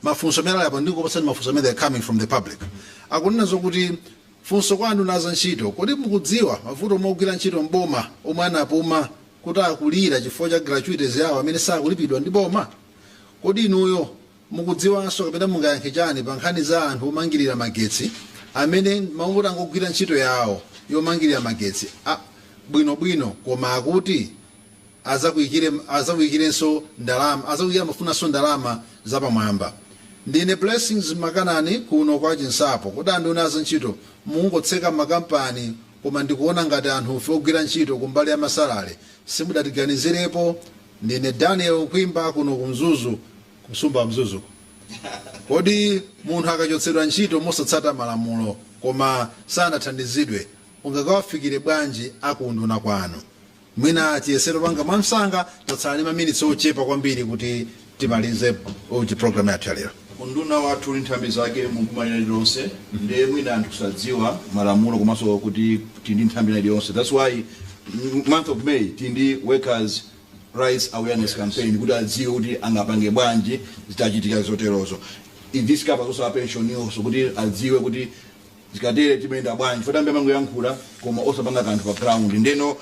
mafunso amene alipo ndikupatseni mafunso amene are coming from the public akunena zokuti funso kwa anduna za ntchito kodi mukudziwa mavuto omwe ogwira ntchito mboma omwe anapuma kuti akulira chifukwa cha gratuities yawo amene sakulipidwa ndi boma kodi inuyo Mukudziwanso kapena mungayankhe chani pa nkhani za anthu omangilira magetsi amene mwangoti angogwira ntchito yawo yomangilira magetsi bwino bwino koma akuti azakuikire amafunanso ndalama zapamwamba. Ndine Blessings Makanani kuno kwa Chinsapo. Kodi anduna a zantchito mukungotseka makampani koma ndikuona ngati anthufe ogwira ntchito kumbali ya masalale simudatiganizirepo? Ndine Daniel Kwimba kuno ku Mzuzu ku msumba wa Mzuzu. Kodi munthu akachotsedwa ntchito mosatsata malamulo koma sanathandizidwe ungakawafikile bwanji a ku unduna kwanu? Mwina tiyesere kupanga mwamsanga tatsala ndi maminitsi ochepa kwambiri kuti timalize program yathu ya lero. Unduna wathu uli nthambi zake mu boma lina lililonse nde mwina ndi kusadziwa malamulo komanso kuti tili ndi nthambi ina iliyonse that's why Mu month of May tili ndi workers rights awareness campaign kuti adziwe kuti angapange bwanji zitachitika zoterozo. This covers also a pension nso kuti adziwe kuti zikatere timayenda bwanji chifukwa ambiri amangoyankhula koma osapanga kanthu pa ground ndeno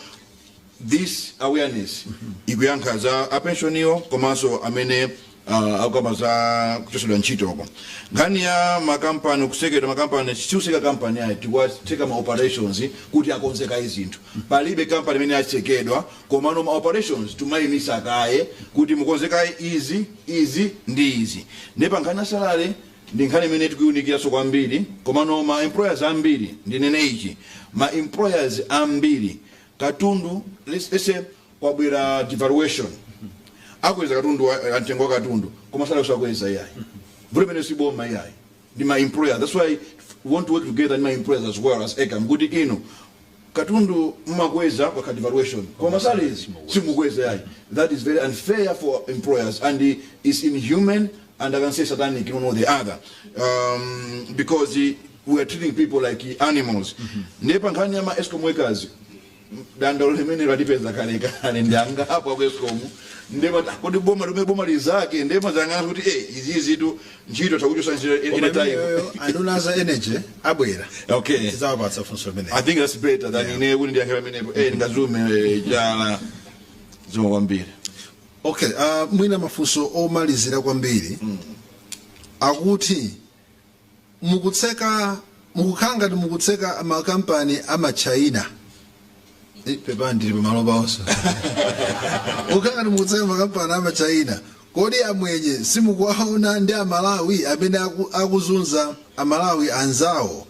this awareness ikuyankha za a pension iyo komanso amene uh, akukamba za kuchosedwa ntchito uko nkhani ya makampani kusekedwa makampani sikuseka kampani ayi tikuwatseka ma operations kuti akonze kaye zinthu palibe kampani imene yasekedwa komano ma operations timayimisa kaye kuti mukonze kaye izi izi ndi izi nde pa nkhani ya salale ndi nkhani imene tikuiunikiranso kwambiri komano ma employers ambiri ndinene ichi ma employers ambiri katundu let's say kwabwera devaluation akweza katundu wa- eh, mtengo wa katundu koma salary osakweza iyayi vuto limene si boma iyayi ndi ma employer that's why we want to work together ndi ma employers as well as ecam kuti inu katundu mmakweza kwa devaluation koma salaries simukweza iyayi that is very unfair for employers and eh, is inhuman and i can say satanic in one or the other um, because eh, we are treating people like animals ndiye pa nkhani ya ma escom workers dandaulo limenelo latipeza kale kale ndi angapo aku escom ndiye amati kodi boma limene boma lizake ndiye amadzanena kuti eh izizitu ntchito takuchosa ntchito any Koma time imeneyo anduna za energy abwera okay tidzawapatsa funso limene I think that's better than Yeah. ine kuti ndiyankhire pamenepo eh ndingadzilume eh, chala zikomo kwambiri okay uh, mwina mafunso omalizira kwambiri akuti mukutseka mukukhala ngati mukutseka makampani amatchaina Eh, pepani ndili pamalo pa onse mukukhala ngati mukutseka makampani amatchaina kodi amwenye simukuwaona ndi amalawi amene aku- akuzunza amalawi anzawo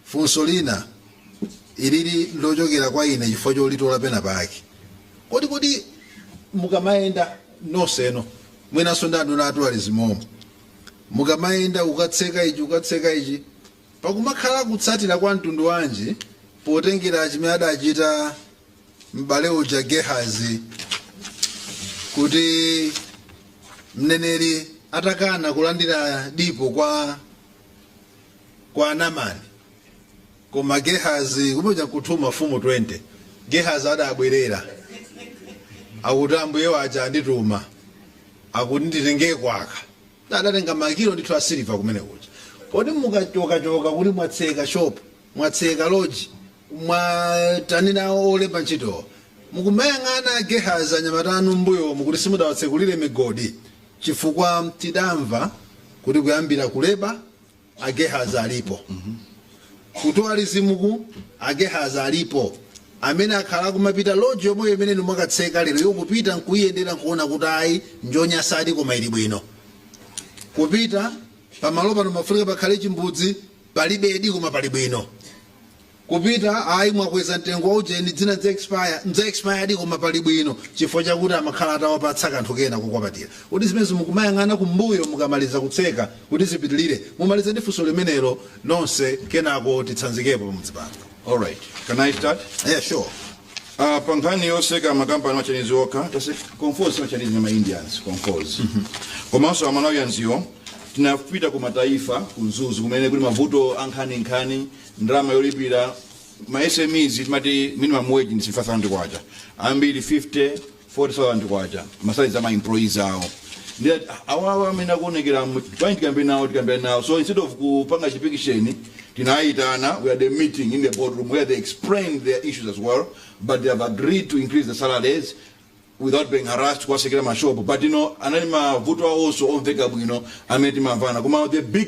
funso lina ilili lochokera kwa ine chifukwa cholitola pena pake kodi kodi mukamayenda nonsenu mwinanso ndi anduna a tourism umo mukamayenda kukatseka ichi kukatseka ichi pakumakhala kutsatira kwa mtundu wanji potengera chimene adachita m'bale uja gehazi kuti mneneri atakana kulandira dipo kwa kwa namani Koma Gehazi, kumene kuja ku 2 Mafumu 20. Gehazi adabwerera, akuti, Ambuye wace andituma, akuti nditengeko aka. Adatenga makilo ndithu a siliva kumene kuja. Kodi mukacokacoka kuti mwatseka shopu, mwatseka loji, mwatani nawo olemba nchitowo, mukumayang'ana Gehazi anyamata anu m'mbuyomu kuti simudawatsekulire migodi? Cifukwa tidamva kuti kuyambira ku Labour. Agehazi alipo ku tourism ku agehazi alipo amene akhala akumapita lodge yomweyo imene inu mwakatseka leroyo kupita nkuyendera nkuona kuti ayi njonyasadi koma ili bwino kupita pamalo pano mafunika pakhale chimbudzi palibedi koma pali bwino Kupita ayi mwakweza mtengo wa ujeni zina ndza expire, ndza expire di koma pali bwino chifukwa chakuti amakhala atawapatsa kanthu kena kukwapatira. Kodi zimenezo mukumayang'ana kumbuyo mukamaliza kutseka kuti zipitilire? Mumalize ndi funso limenelo nonse kenako titsanzikepo pamudzi pano. Alright, can I start? Yeah, sure. Uh, pa nkhani yoseka makampani ma Chinese okha taseka Conforzi ma Chinese ma Indians Conforzi komanso a Malawians iwo tinapita ku mataifa ku mzuzu kumene kuli mavuto ankhaninkhani ndalama yolipira ma smes timati minimum wage ndi 5000 kwacha ambiri 50 40000 kwacha ma salaries a ma employees awo ndi ati, awawa amene akuonekera mu- pani tikambe nawo tikambe nawo so instead of kupanga chipikisheni tinayitana we had a meeting in the boardroom where they explained their issues as well but they have agreed to increase the salaries without being harassed kuwasekera mashopo but you know anali mavuto awo onse omveka bwino amene timamvana koma the big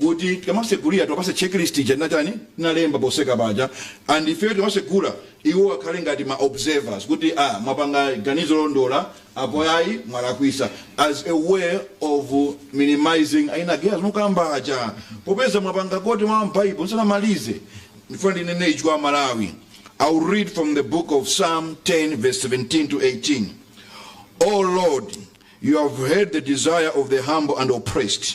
kuti tikamasegulira tiwapase checklist ija tinatani tinalemba poseka paja and ifeyo tikamasegula iwo akhale ngati ma observers kuti ah mwapanga ganizo lolondola apo ayi mwalakwisa as a way of minimizing aina gehazi mukamba aja popeza mwapanga quote mwa m'baibo ndisanamalize ndifuna ndinene ichi kwa amalawi i'll read from the book of psalm 10 verse 17 to 18 o lord you have heard the desire of the humble and oppressed